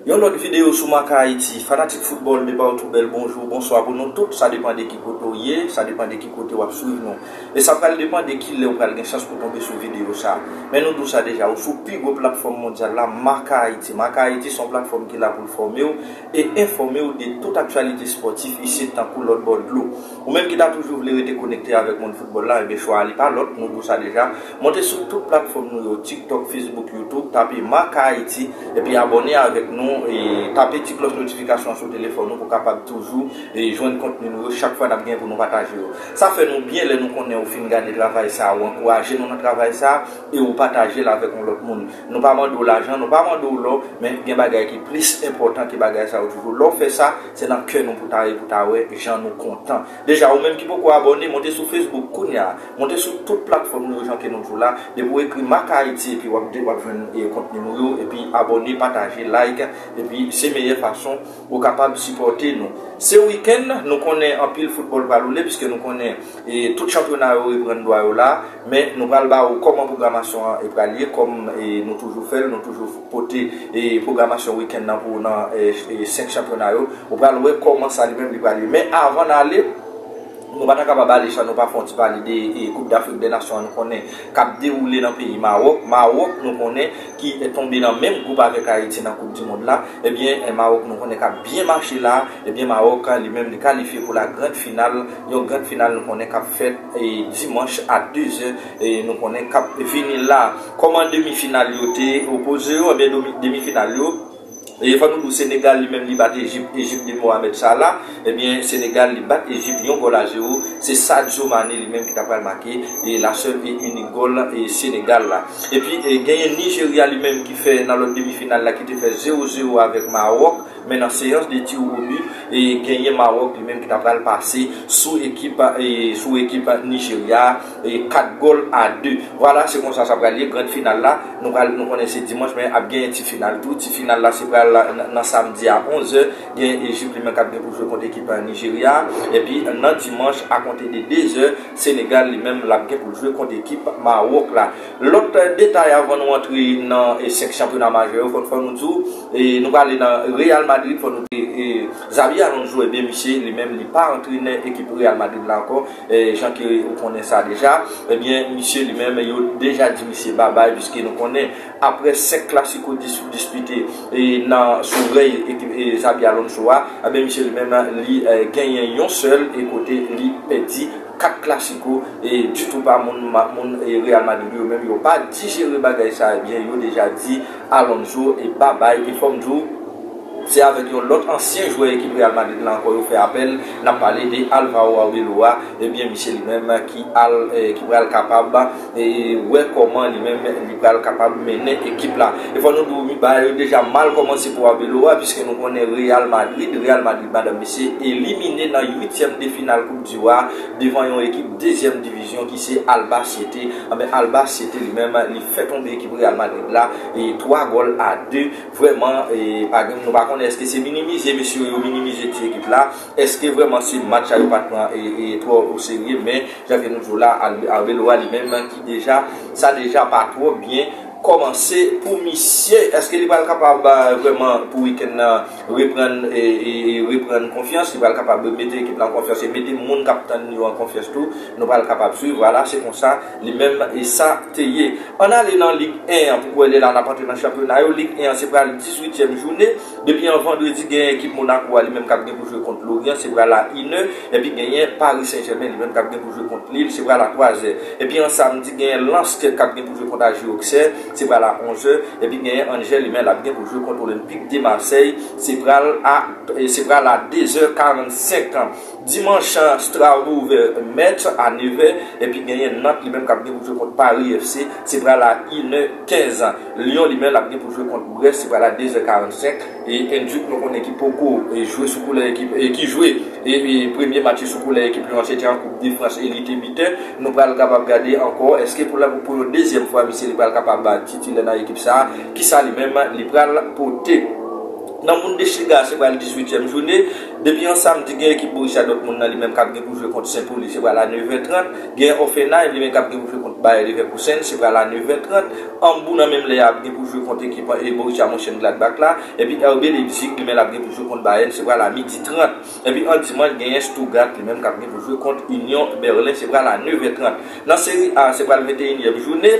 Yon lòt videyo sou MakaHaiti, fanatik foutbòl depawtou bèl bonjou, bonswa pou nou tout, sa depan de ki kote w ye, sa depan de ki kote w ap swiv nou. E sa pral depan de ki lè ou pral gen chans pou tonbe sou videyo sa. Men nou di w sa deja, ou sou pi gwo platfòm mondyal la, MakaHaiti. MakaHaiti se yon platfòm ki la pou l fòme w, e enfòme w de tout aktyalite spòtif isit tankou lòt bò dlo. Ou menm ki ta toujou vle rete konekte avèk mond foutbòl la, enben chwa a li pa lòt, nou di w sa deja, monte sou tout platfòm nou yo, TikTok, Facebook, YouTube, tape Marca Haiti, epi abòne avèk nou, e tape ti klòch notifikasyon an sou telefòn ou pou w kapab toujou jwenn kontni nou yo chak fwa n ap gen pou nou pataje yo. Sa fè nou byen lè nou konnen ou fin gade travay sa a, ou ankouraje nou nan travay sa a, e ou pataje l avèk yon lòt moun. Nou pa mande w lajan, nou pa mande w lò, men gen bagay ki plis enpòtan ke bagay sa yo toujou. Lè w fè sa, se nan kè nou pou ta ye pou ta wè jan nou kontan. Deja, ou menm ki poko abòne, monte sou Facebook kounya a. Monte sou tout platfòm nou yo jan ke nou toujou la. Depi w ekri Mack Haiti epi wap jwenn kontni nou yo, epi abòne, pataje, like, epi se meyè fason ou kapab sipòte nou. Se wikenn, nou konnen anpil foutbòl pral woule, piske nou konnen. E tout chanpyona yo reprann dwa yo la, men nou pral ba ou kòman pwogramasyon an pral ye kòm nou toujou fè l, nou toujou pote pwogramasyon wikenn nan pou ou nan 5 chanpyona yo, ou pral wè kòman sa li menm li pral ye. Men avan n ale, nou pa ta kapab ale san nou pa fè yon ti pale de koup dAfrik dè Nasyon an nou konnen k ap dewoule nan peyi Mawòk, Mawòk nou konnen. ki tonbe nan menm gwoup avèk Ayiti nan koup dimond la, ebyen Mawòk nou konnen kap byen mache la, ebyen Mawòk li menm li kalifye pou la grand final, yon grand final nou konnen kap fèt dimanch a 2 zè nou konnen kap vini la. Kòman demi final yo te opoze yo, ebyen demi final yo. E fò nou di w Senegal li menm li bat Ejip, Ejip de Mohamed Salah, ebyen Senegal li bat Ejip yon gòl a zewo, se Sadio Mané li menm ki ta pral make la sèl e inik gòl Senegal la. Epi genyen Nijerya li menm ki fè nan lòt demi final la ki te fè zewo zewo avèk Mawòk, men nan seyans de tir au but e genyen Mawòk li menm ki ta pral pase sou ekip sou ekip Nijerya a. 4 gòl a 2. Vwala se konsa sa pral ye grand final la nou pral nou konnen se dimanch men ap genyen ti final tou ti final la se pral nan samdi a 11 zè gen Ejip li menm kap gen pou jwe kont ekip Nijerya epi nan dimanch a konte de 2 zè Senegal li menm lap gen poul jwe kont ekip Mawòk la lòt detay avan nou antre nan 5 chanpyona majè yo fòn fòn nou di w nou prale nan Real Madrid fòn nou di w Xabi Alonso ebyen misye li menm li pa antrenè ekip Real Madrid la ankò. Jan ke ou konnen sa deja, ebyen misye li menm yo deja di misye babay piske nou konnen aprè 5 klasiko dispite nan sou rèy Xabi Alonso a, ebyen misye li menm li genyen yon sèl e kote li pèdi 4 klasiko ditou pa moun Real Madrid yo menm yo pa dijere bagay sa ebyen yo deja di Alonso babay e fòm di w. Se avèk yon lòt ansyen jwè ekip Real Madrid la ankò yo fè apèl, n ap pale de Alvaro Arbeloa, ebyen misye li menm ki al ki pral kapab wè kòman li menm li pral kapab mennen ekip la. E fò nou di w bagay yo deja mal kòmanse pou Arbeloa piske nou konnen Real Madrid, Real Madrid madanm mesye, elimine nan uityèm de final koup diw a devan yon ekip dezyèm divizyon ki se Albacete, anben Albacete li menm li fè tonbe ekip Real Madrid la 3 gòl a 2. Vrèman pa gen nou pa konnen eske se minimize mesye yo minimize ti ekip la eske vrèman se match sa yo pat pran twò o serye men jan ke nou di w la Arbeloa li menm ki deja sa deja pa twò byen kòmanse pou misye eske li pral kapab vrèman pou wikenn nan reprann reprann konfyans li pral kapab mete ekip la an konfyans e mete moun kap tann yo an konfyans tou nou pral kapab swiv wala se konsa. Li menm e sa te ye. Ann ale nan Lig 1 an pou k wè lè la n ap antre nan chanpyona yo. Lig 1 an se pral dizuityèm joune. Depi an vandredi genyen ekip Monako a li menm k ap gen pou jwe kont Loryan se pral a inè. Epi genyen Pari Sen Jèmen li menm k ap gen pou jwe kont Lil se pral a twazè. Epi an samdi genyen Lans k ap gen pou jwe kont AG Oksè se pral a onzè. Epi genyen Angè li menm l ap gen pou jwe kont Olenpik de Masèy se pral a se pral a dezè karannsenk. Dimanch, Strasbourg ouvè Metz a 9 è, epi genyen Nantes li menm k ap gen pou l jwe kont Paris FC, se pral a 1 è 15. Lyon li menl ap gen pou l jwe kont Brest, se pral a 2 zè 45. E Duc nou konnen ki poko jwe sou koulè ekip, ki jwe premye match li sou koulè ekip Lyon an se te an koup de Frans e li te bitè. Nou pral kapab gade ankò èske pou yon dezyèm fwa misye li pral kapab titilè nan ekip sa, kisa li menm li pral pote. Nan Bundesliga a se pral 18 tièm joune. Depi yon samdi gen ekip Borussia Dortmund nan li menm kap gen pou jwe kont Sen Poli se pral a 9 è 30, gen Hoffenheim li menm kap gen pou jwe kont Bayer Leverkusen se pral a 9 è 30, Hambourg nan menm lè a ap gen pou jwe kont ekip Borussia Monchengladbach la, epi RB Leipzig li menm lap gen pou jwe kont Bayern se pral a midi 30, epi an dimanch genyen Stuttgart li menm kap gen pou jwe kont Union Berlin se pral a 9 è 30. Nan Serie A se pral 21 yèm joune.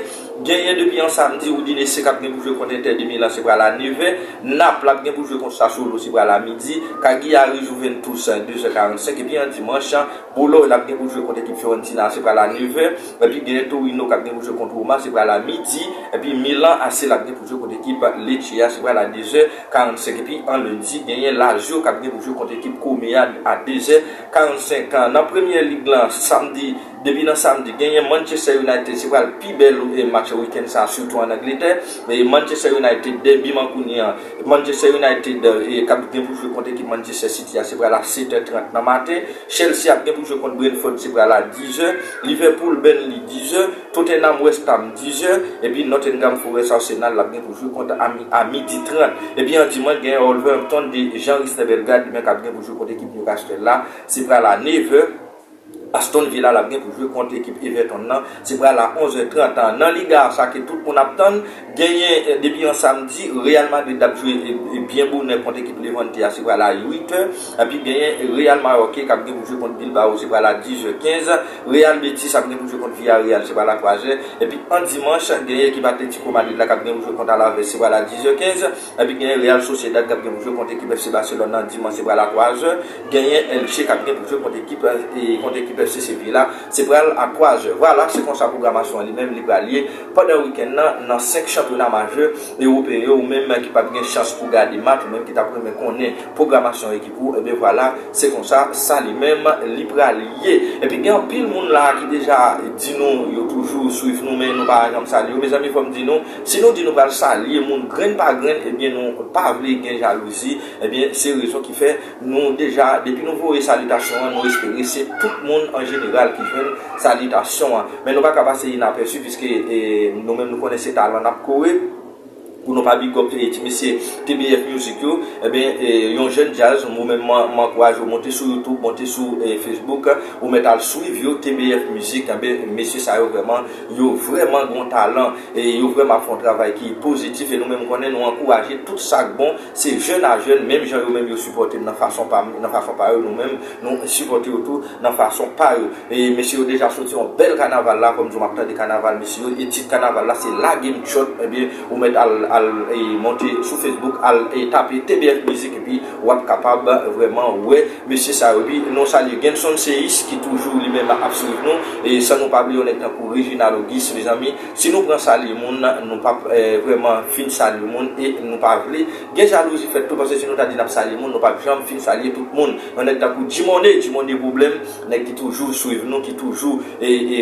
Genyen depi yon samdi Roudine Seck ap gen pou jwe kont Inter de Milan se pral a nevè, Naples ap gen pou jwe kont Sassuolo se pral a midi, Cagliari Juventus 2 zè 45 epi an dimanch Bologne ap gen pou jwe kont ekip Fiorentina se pral a nevè, epi genyen Torino kap gen pou jwe kont Roma se pral a midi, epi Milan AC lap gen pou jwe kont ekip Lecce a se pral a 2 zè 45 epi an lendi genyen Lazio kap gen pou jwe kont ekip Come a a 2 zè 45. Nan premyè lig lan samdi. Depi nan samdi, genyen Manchester United se pral pi bèl match weekend sa sitou an Angletè. Manchester United dèbi mankouni an, Manchester United kap gen pou jwe kont ekip Manchester City a se pral a 7 è 30 nan maten, Chelsea ap gen pou jwe kont Brentford se pral a 10 è, Liverpool Burnley 10 è, Tottenham West Ham 10 è, epi Nottingham Forest Arsenal lap gen pou jwe kont a midi 30. Epi an dimanch genyen Wolverhampton de Jean Risner Bellegarde li menm kap gen pou jwe kont ekip Newcastle la se pral a 9 è. Aston Villa lap gen pou jwe kont ekip Everton nan, se pral a 11 è 30 an nan Liga sa ke tout moun ap tann, genyen depi yon samdi Real Madrid ap jwe byen bonè kont ekip Levante a se pral a 8 è, epi genyen Real Mayorque kap gen pou jwe kont Bilbao se pral a 10 è 15, Real Betis ap gen pou jwe kont Villarreal se pral a 3 è, epi an dimanch genyen ekip Atletico Madrid la kap gen pou jwe kont Alaves se pral a 10 è 15. Epi genyen Real Sociedad k ap gen pou jwe kont ekip FC Barcelone nan dimanch se pral a 3 zè, genyen Elche k ap gen pou jwe kont ekip kont ekip FC Sevilla se pral a 3 zè. Vwala se konsa pwogramasyon an li menm li pral ye pandan wikenn nan nan 5 chanpyona majè ewopeyen yo. Ou menm ki pap gen chans pou gade match ou menm ki tap renmen konnen pwogramasyon ekip ou ebyen vwala se konsa sa li menm li pral ye. Epi gen anpil moun la ki deja di nou yo toujou swiv nou men nou pa janm salye yo mezanmi fò m di nou Si nou di nou pral salye moun grenn pa grenn ebyen nou pa vle gen jalouzi ebyen se rezon ki fè nou deja depi nou voye salitasyon an nou espere se tout moun an jeneral ki jwenn salitasyon an men nou pa ka pase inapèsi piske nou menm nou konnen se talan nap kore pou nou pa bigòp ti mesye TBF music yo ebyen yon jèn djaz ou menm m ankouraje w monte sou youtube monte sou facebook ou mèt al swiv yo TBF music ebyen mesye sa yo vrèman Yo vrèman gon talan e yo vrèman ap fè yon travay ki pozitif e nou menm konnen nou ankouraje tout sak bon se jèn a jèn menm jan yo menm yo sipòtem nan fason pam nan fason pa yo nou menm nou sipòte yo tou nan fason pa yo e mesye yo deja soti yon bèl kanaval la kòm di w map tande kanaval mesye yo e tit kanaval la se lagem tchòt ebyen ou mèt al al monte sou fesbouk al tape TBF mizik epi wap kapab vrèman wè. Mesye sa yo wi, nou salye Genson Seyis ki toujou li menm ap swiv nou, e san nou pa bliye yon nèg tankou Reginald Auguste mezanmi, si nou pran salye moun nou pap vrèman fin salye moun e nou pa vle gen jalouzi fèt tou paske si nou ta di nap salye moun nou pap janm fin salye tout moun, yon nèg tankou Dumone, Dumone pwoblèm, nèg ki toujou swiv nou, ki toujou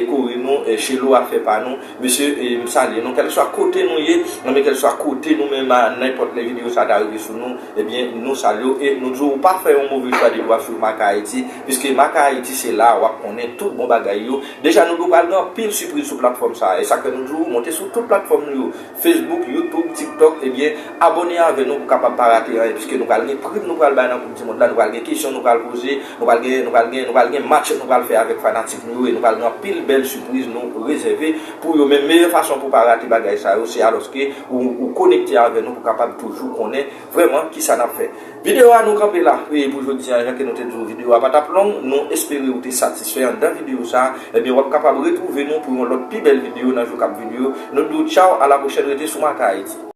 kore nou, Chelo afè pa nou, mesye m salye nou kèlkeswa kote nou ye, nan men kèlkeswa kote nou menm a nenpòt lè videyo sa ta rive sou nou. Ebyen nou salye w e nou di w ou pa fè yon move chwa depi w ap swiv Marca Haiti piske Marca Haiti se la a w ap konnen tout bon bagay yo deja nou di w pral gen anpil sipriz sou platfòm sa a e sak fè nou di w monte sou tout platfòm nou yo Facebook YouTube TikTok ebyen abòne avè nou pou kapab pa rate anyen piske nou pral gen prim nou pral bay nan koup di mond la nou pral gen kesyon nou pral poze nou pral gen nou pral gen nou pral gen match nou pral fè avèk fanatik nou yo e nou pral gen anpil bèl sipriz nou rezève Pou yo menm, meyè fason pou w pa rate bagay sa yo, se alòske ou konekte avè nou pou w kapab toujou konnen vrèman kisa n ap fè. Videyo a nou kanpe la pou jodi an, jan ke nou te di w videyo a pa t ap long, nou espere ou te satisfè anndan videyo sa, ebyen w ap kapab retwouve nou pou yon lòt pi bèl videyo nan jou k ap vini yo, nou di w tchaw a la pwochèn rete sou MarcaHaiti.